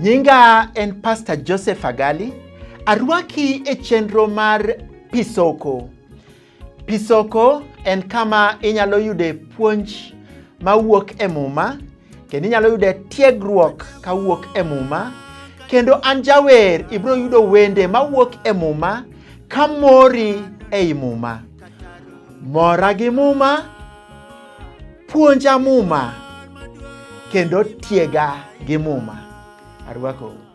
Nyinga en Pastor Joseph Agali. Arwaki e chenro mar Pisoko. Pisoko en kama inyalo yude puonj mawuok e Muma kendo inyalo yude tiegruok kawuok e Muma kendo an jawer ibiro yudo wende mawuok e Muma ka mori ei Muma. Mora gi Muma, puonja Muma kendo tiega gi Muma. Arwakou.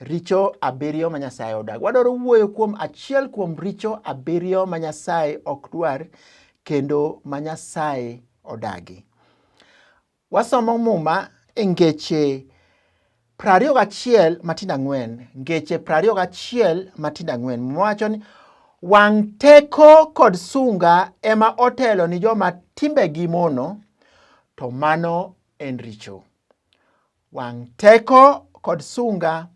Richo abiriyo ma Nyasaye odag. Wadwaro wuoyo kuom achiel kuom richo abiriyo ma Nyasaye ok dwar kendo ma Nyasaye odagi. Wasomo Muma e ngeche prariyo gachiel matindo ang'wen. Ngeche prariyo gachiel matindo ang'wen. Muma wacho ni wang' teko kod sunga ema otelo ni joma timbegi mono, to mano en richo. Wang' teko kod sunga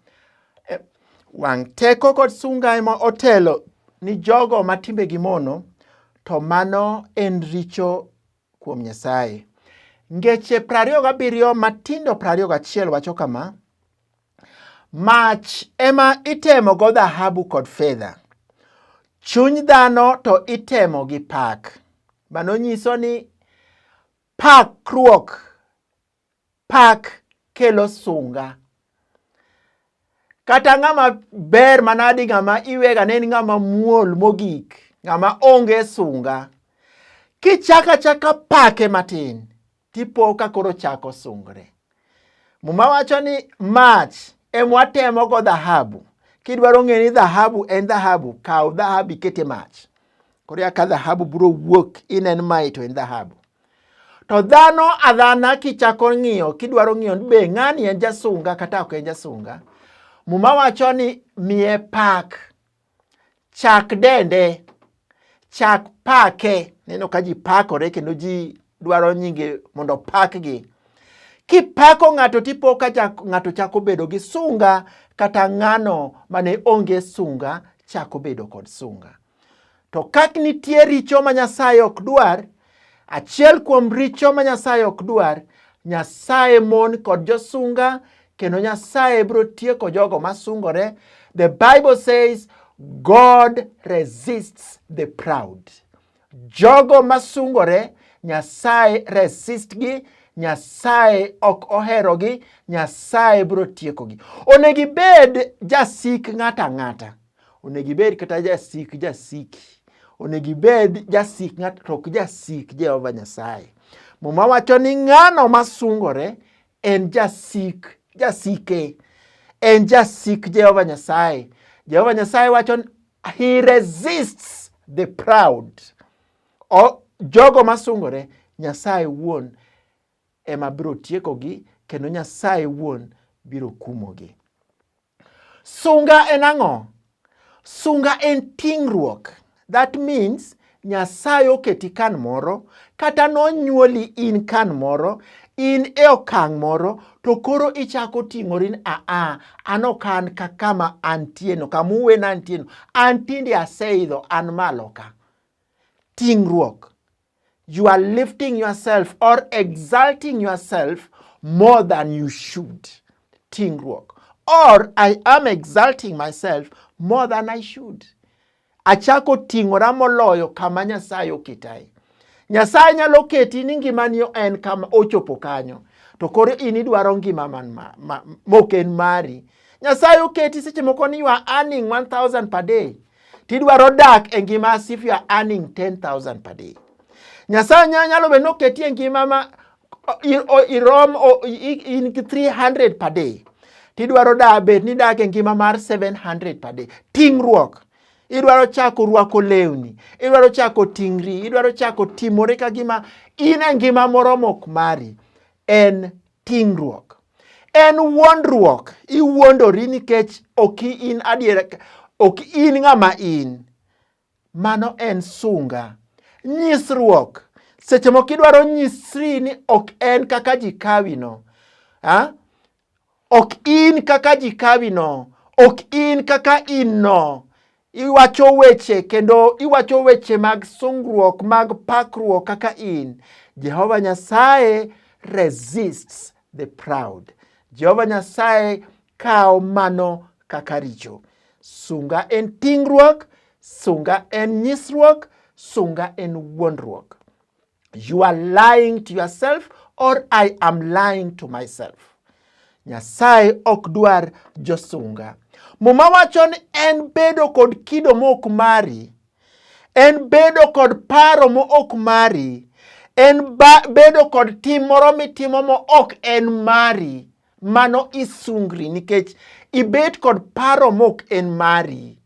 e, wang' teko kod sunga ema otelo ni jogo ma timbegi mono, to mano en richo kuom Nyasaye. Ngeche 27 matindo 21 wacho kama, Mach ema itemo go dhahabu kod fedha, chuny dhano to itemo gi pak. Mano nyiso ni pakruok Pak kelo sunga. Kata ng'ama ber manadi ng'ama iwega ne en ng'ama muol mogik, ng'ama onge sunga. Kichako achaka pake matin, tipo ka koro chako sungre. Muma wacho ni mach emwatemo go dhahabu. Kidwaro ng'e ni dhahabu en dhahabu, kaw dhahabu ikete mach. koro ya ka dhahabu biro wuok in en mai to en dhahabu to dhano adhana kichako ng'iyo kidwaro ng'iyo ni be ng'ani en jasunga kata ok en jasunga muma wacho ni miye pak chak dende chak pake neno ka ji pakore kendo ji dwaro nyinge mondo opakgi. Kipako ng'ato tipo ka ng'ato chako bedo gi sunga kata ng'ano mane onge sunga chako bedo kod sunga. To kak nitie richo ma Nyasaye ok dwar, achiel kuom richo ma Nyasaye ok dwar, Nyasaye mon kod josunga kendo Nyasaye biro tieko jogo masungore. The Bible says God resists the proud. Jogo masungore Nyasaye resistgi Nyasaye ok oherogi, Nyasaye biro tiekogi. Onego ibed jasik ng'ato ang'ata, onego ibed kata jasik jasiki, onego ibed jasik ng'ato to ok jasik Jehova Nyasaye. Muma wacho ni ng'ano masungore en jasik jasike en jasik Jehova Nyasaye. Jehova Nyasaye wacho ni he resists the proud. O, jogo masungore Nyasaye wuon ema biro tiekogi kendo Nyasaye wuon biro kumogi. Sunga en ang'o? Sunga en ting'ruok. That means Nyasaye oketi kan moro kata nonyuoli in kan moro in e okang' moro to koro ichako ting'ori ni aa ah, ah, an ok an ka kama antieno kama uwena antieno an tinde aseidho an malo ka ting'ruok you are lifting yourself or exalting yourself more than you should. Tingruok. Or I am exalting myself more than I should. Achako ting'ora moloyo kama Nyasaye oketae. Nyasaye nyalo keti ni ngimani en kama ochopo kanyo, to koro in idwaro ngima man ma, ma, mok en mari. Nyasaye oketi seche moko ni you are earning 1000 per day. tidwaro dak e ngima as if you are earning 10000 per day nyasaye nyalo bedo noketi e ngima ma irom in gi 300 per day tidwaro da bed ni dak e ngima mar 700 per day tingruok idwaro chako rwako lewni idwaro chako tingri idwaro chako timore ka gima in e ngima moro mok mari en ting'ruok. En wuondruok, iwuondori nikech ok in adiera, ok in ng'ama in. Mano en sunga. Nyisruok, seche moko idwaro nyisri ni ok en kaka ji kawino. Ha? Ok in kaka ji kawino, ok in kaka in no. Iwacho weche kendo iwacho weche mag sungruok mag pakruok kaka in. Jehova Nyasaye resists the proud. Jehova Nyasaye kawo mano kaka richo. Sunga en tingruok, sunga en nyisruok, sunga en wuondruok. You are lying to yourself or I am lying to myself. Nyasaye ok dwar josunga. Muma wacho ni en bedo kod kido mok mari, en bedo kod paro mok mari, en bedo kod tim moro mitimo mok en mari. Mano isungri nikech ibet kod paro mok en mari.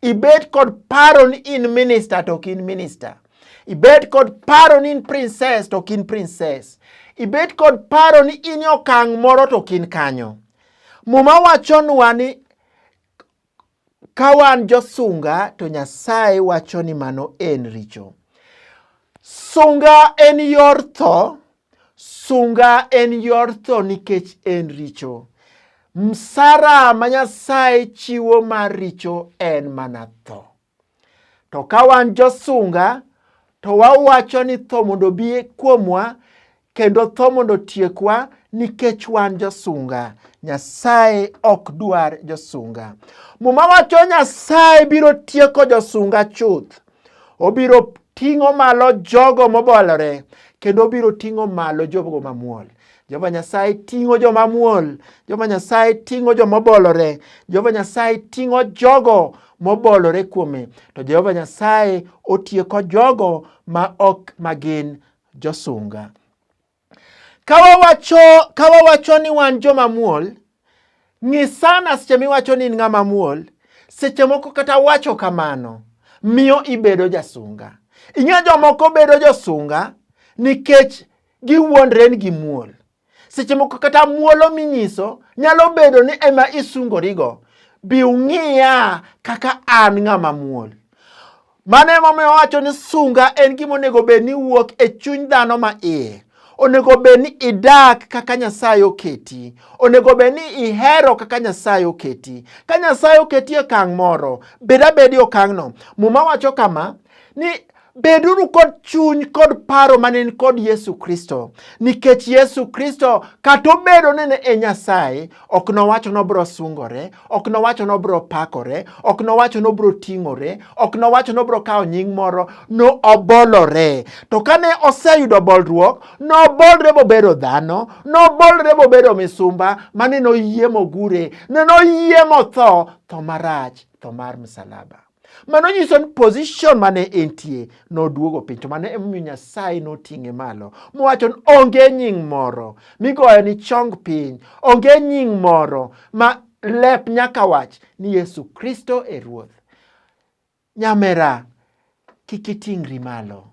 Ibet kod paro ni in minista to ok in minista. Ibet kod paro ni in princess to ok in princess. Ibet kod paro ni in okang' moro to ok in kanyo. Muma wachonwa ni Ka wan josunga to Nyasaye wacho ni mano en richo. Sunga en yor tho, sunga en yor tho nikech en richo. Msara ma Nyasaye chiwo mar richo en mana tho. To ka wan josunga to wawacho ni tho mondo obi kuomwa kendo tho mondo otiekwa nikech wan josunga. Nyasaye ok dwar josunga. Muma wacho Nyasaye biro tieko josunga chuth. Obiro ting'o malo jogo mobolore kendo obiro ting'o malo jogo mamuol. Jehova Nyasaye ting'o joma muol, Jehova Nyasaye ting'o joma obolore, Jehova Nyasaye ting'o jogo mobolore kuome, to Jehova Nyasaye otieko jogo ma ok magin josunga. Ka wawacho, ka wawacho ni wan joma muol, ng'i sana seche miwacho ni in ng'ama muol. Seche moko kata wacho kamano miyo ibedo jasunga. Ing'e jomoko bedo josunga nikech giwuondre ni gimuol. Seche moko kata muolo minyiso nyalo bedo ni ema isungorigo. Bi ung'iya kaka an ng'ama muol. Mano emomiyo wacho ni sunga en gima onego bed ni wuok e chuny dhano ma iye. Onego bed ni idak kaka Nyasaye oketi. Onego bed ni ihero kaka Nyasaye oketi. Ka Nyasaye oketi e okang' moro, bed abeda e okang'no. Muma wacho kama ni Beduru kod chuny kod paro ma ne en kod Yesu Kristo, nikech Yesu Kristo kata obedo ni ne e Nyasaye, ok nowacho ni obiro sungore, ok nowacho ni obiro pakore, ok nowacho ni obiro ting'ore, ok nowacho ni obiro kawo nying moro, no obolore. To kane oseyudo bolruok, nobolre mobedo dhano, nobolre mobedo misumba, mane noyie mogure, ne noyie motho, tho marach, tho mar msalaba. Mano nyiso ni position mane entie noduogo piny to mano emomiyo Nyasaye noting'e malo mowacho ni onge nying moro migoyo ni chong piny, onge nying moro ma lep nyaka wach ni Yesu Kristo e Ruoth. Nyamera kik iting'ri malo,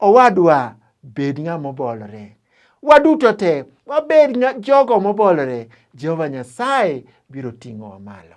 owadwa bed ng'ama obolore. Waduto te wabed jogo mobolore, Jehova Nyasaye biro ting'owa malo.